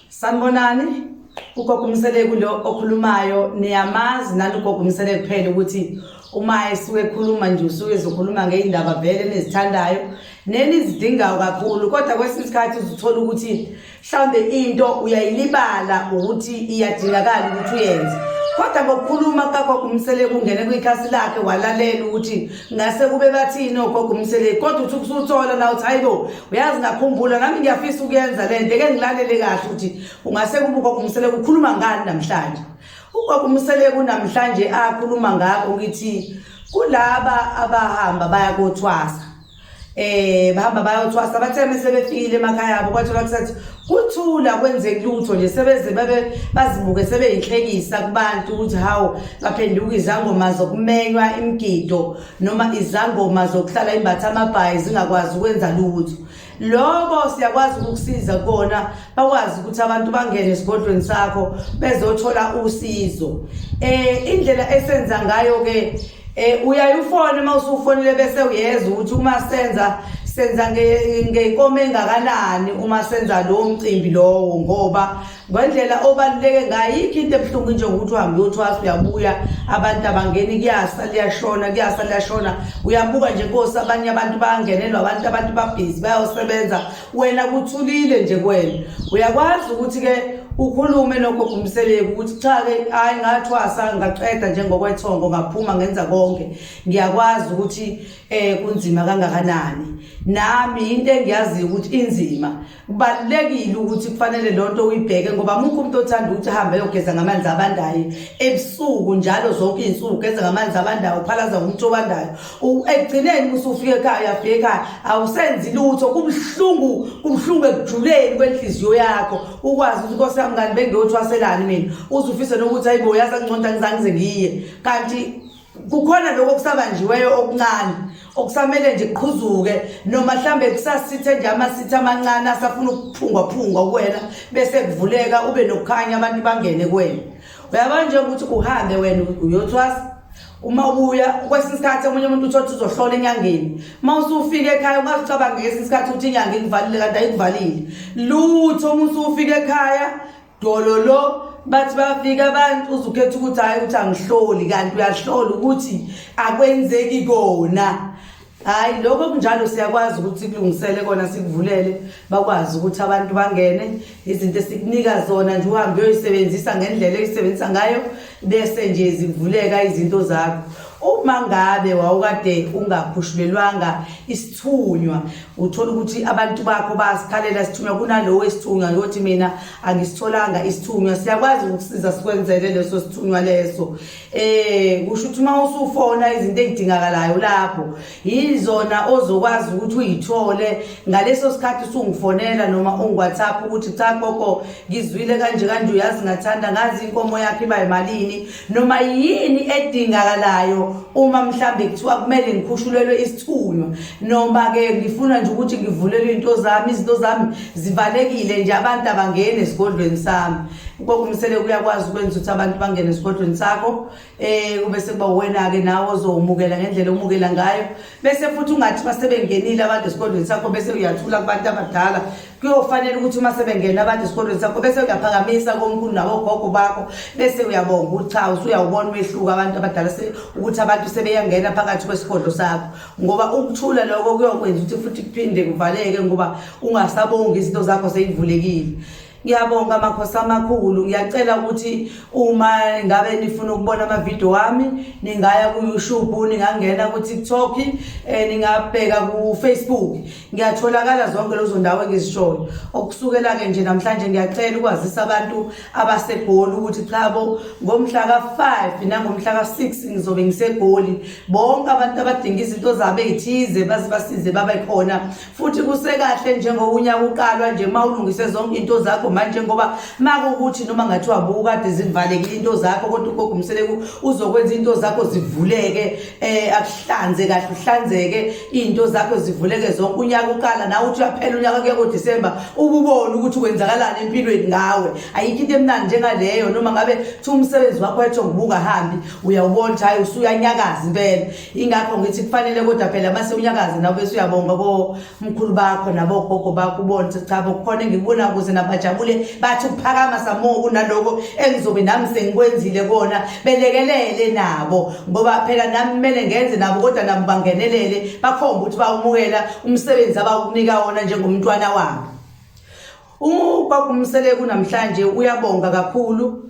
sanibonani ugogo umseleku lo okhulumayo niyamazi nani ugogo umseleku kuphela ukuthi uma esuke ekhuluma nje usuke ezokhuluma ngey'ndaba vele enizithandayo nenizidingayo kakhulu kodwa kwesinye isikhathi uzithola ukuthi mhlawumbe into uyayilibala ukuthi iyadingakala ukuthi uyenze kodwa ngokukhuluma kukagogo umseleki ungene kwikhasi lakhe walalela ukuthi ngase kube bathini ogogo umseleki kodwa uthi ukusuthola na uthi hayi bo uyazi ngakhumbula nami ngiyafisa ukuyenza le nto eke ngilalele kahle ukuthi ungase kube ugogo umseleki ukhuluma ngani namhlanje ugogo umseleki unamhlanje akhuluma ngakho ngithi kulaba abahamba bayakothwasa eh bahamba bayothwasa bathe mase befikile emakhaya abo kwathola kusathi kuthula kwenzeki lutho nje sebeze babe bazibuke sebeyinhlekisa kubantu ukuthi hawo baphenduka izangoma zokumenywa imgido noma izangoma zokuhlala imbatha amabhayi zingakwazi ukwenza lutho lokho siyakwazi ukukusiza kona bakwazi ukuthi abantu bangene esigodlweni sakho bezothola usizo eh indlela esenza ngayo ke Eh uyaye ufone uma usufonile bese uyeza ukuthi uma senza senza ngeyinkomo engakanani uma senza lowo mcimbi lowo ngoba ngendlela obaluleke ngayo yikho into ebuhlungu nje ukuthi uhambe uyothwasa uyabuya abantu abangeni kuyasa liyashona kuyasa liyashona uyabuka nje nkosi abanye abantu bayangenelwa abantu abantu babhizi bayosebenza wena kuthulile nje kwena uyakwazi ukuthi ke ukhulume nogogo umseleki ukuthi cha ke hayi ngathwasa ngaqeda njengokwethongo ngaphuma ngenza konke ngiyakwazi ukuthi eh kunzima kangakanani nami into engiyaziyo ukuthi inzima kubalekile ukuthi kufanele lonto uyibheke ngoba mukho umuntu othanda ukuthi hambe yogeza ngamanzi abandayo ebusuku njalo zonke izinsuku geza ngamanzi abandayo phalaza umuntu obandayo ekugcineni usufika ekhaya uyafika ekhaya awusenzi lutho kubuhlungu kubuhlungu ekujuleni kwenhliziyo yakho ukwazi ukuthi inkosi yami kanti bengiyothwaselani mina uzufise nokuthi ayibo yazi anginconta ngizange ngize ngiye kanti kukhona lokho kusabanjiweyo okuncane okusamele nje kuqhuzuke noma mhlambe kusasithe nje amasitha amancane asafuna ukuphungwa phungwa kuwena bese kuvuleka ube nokukhanya abantu bangene kuwena uyabona nje ukuthi uhambe wena uyothwasa uma ubuya kwesinye isikhathi omunye umuntu uthi othi uzohlola enyangeni uma usufika ekhaya ungazicabanga ngesinye isikhathi ukuthi inyanga ikuvalile kanti ayikuvalile lutho uma usufika ekhaya dololo bathi bafika abantu uzukhetha ukuthi hhayi ukuthi angihloli kanti uyahlola ukuthi akwenzeki kona Hayi lokho kunjalo siyakwazi ukuthi kulungisele kona sikuvulele bakwazi ukuthi abantu bangene izinto esikunika zona nje uhambe uyoyisebenzisa ngendlela oyisebenzisa ngayo bese nje zivuleka izinto zakho uma ngabe wawukade ungakhushulelwanga isithunywa uthola ukuthi abantu bakho basikhalela sithunywa kunalowo esithunywa yothi mina angisitholanga isithunywa siyakwazi ukusiza sikwenzele leso sithunywa leso Eh kusho ukuthi uma usufona izinto ezidingakalayo lapho yizona ozokwazi ukuthi uyithole ngaleso sikhathi usungifonela noma ungiWhatsApp ukuthi cha gogo ngizwile kanje kanje uyazi ngathanda ngazi inkomo yakhe iba imalini noma yini edingakalayo uma mhlambe kuthiwa kumele ngikhushulelwe isithunywa noma ke ngifuna nje ukuthi ngivulelwe into zami izinto zami zivalekile nje abantu abangene esigodlweni sami Ugogo Msele uyakwazi ukwenza ukuthi abantu bangene esigodlweni sakho eh kube sekuba wena ke nawe ozowumukela ngendlela omukela ngayo bese futhi ungathi basebengenile abantu esigodlweni sakho bese uyathula kubantu abadala kuyofanele ukuthi uma sebengena abantu esigodlweni sakho bese uyaphakamisa komkhulu nawo gogo bakho bese uyabonga ukuthi cha usuyawubona umehluko abantu abadala ukuthi abantu sebeyangena phakathi kwesigodlo sakho ngoba ukuthula lokho kuyokwenza ukuthi futhi kuphinde kuvaleke ngoba ungasabongi izinto zakho seyivulekile Ngiyabonga makhosi amakhulu ngiyacela ukuthi uma ngabe nifuna ukubona amavidiyo wami ningaya ku-youtube ningangena ku-tiktok um ningabheka ku-facebook ngiyatholakala zonke lezo ndawo engizishoyo okusukela-ke nje namhlanje ngiyacela ukwazisa abantu abasegoli ukuthi chabo ngomhla ka-five nangomhla ka-six ngizobe ngisegoli bonke abantu abadinga izinto zabo ey'thize baze basize babe khona futhi kusekahle njengowunyaka uqalwa nje uma ulungise zonke into zakho manje ngoba makukuthi noma ngathiwa bukade zivalekile into zakho kodwa ugogo umseleku uzokwenza into zakho zivuleke eh akuhlanze kahle uhlanzeke into zakho zivuleke zonke unyaka uqala nawe uthi uyaphela unyaka kuya ngoDecember ububone ukuthi kwenzakalani empilweni ngawe ayikho into emnandi njengaleyo noma ngabe thi umsebenzi wakho etho ngibuka hambi uyawubona ukuthi hayi usuyanyakaza impela ingakho ngithi kufanele kodwa phela uma sewunyakazi nawe bese uyabonga komkhulu bakho nabogogo bakho ubone ukuthi cha bokukhona engikubona kuze nabajabule bathi ukuphakama samoa kunaloko engizobe nami sengikwenzile kona belekelele nabo ngoba phela nami kumele ngenze nabo kodwa nabo bangenelele bakhomba ukuthi bawumukela umsebenzi abawukunika wona njengomntwana wabo uma kwakumsele kunamhlanje uyabonga kakhulu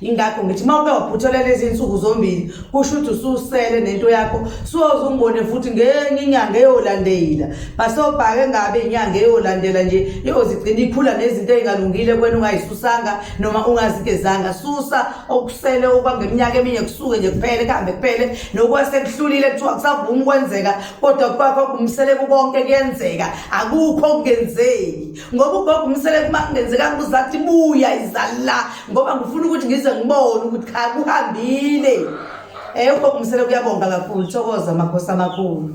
yingakho ngithi uma uke waphutholela izinsuku zombili kusho ukuthi ususele nento yakho soze umbone futhi ngenye inyanga eyolandela basobhake ngabe inyanga eyolandela nje iyozigcina ikhula nezinto ezingalungile kwena ungayisusanga noma ungazikezanga susa okusele okwangeminyaka eminye kusuke nje kuphele kuhambe kuphele nokwasekuhlulile kuthiwa kusavuma ukwenzeka kodwa kwakho kumsele kukonke kuyenzeka akukho okungenzeki ngoba ugogo umseleko uma kungenzekanga uzathi buya izala ngoba ngifuna ukuthi ngize ngibone ukuthi cha kuhambile um ugogo umseleko uyabonga kakhulu thokoza amakhosi amakhulu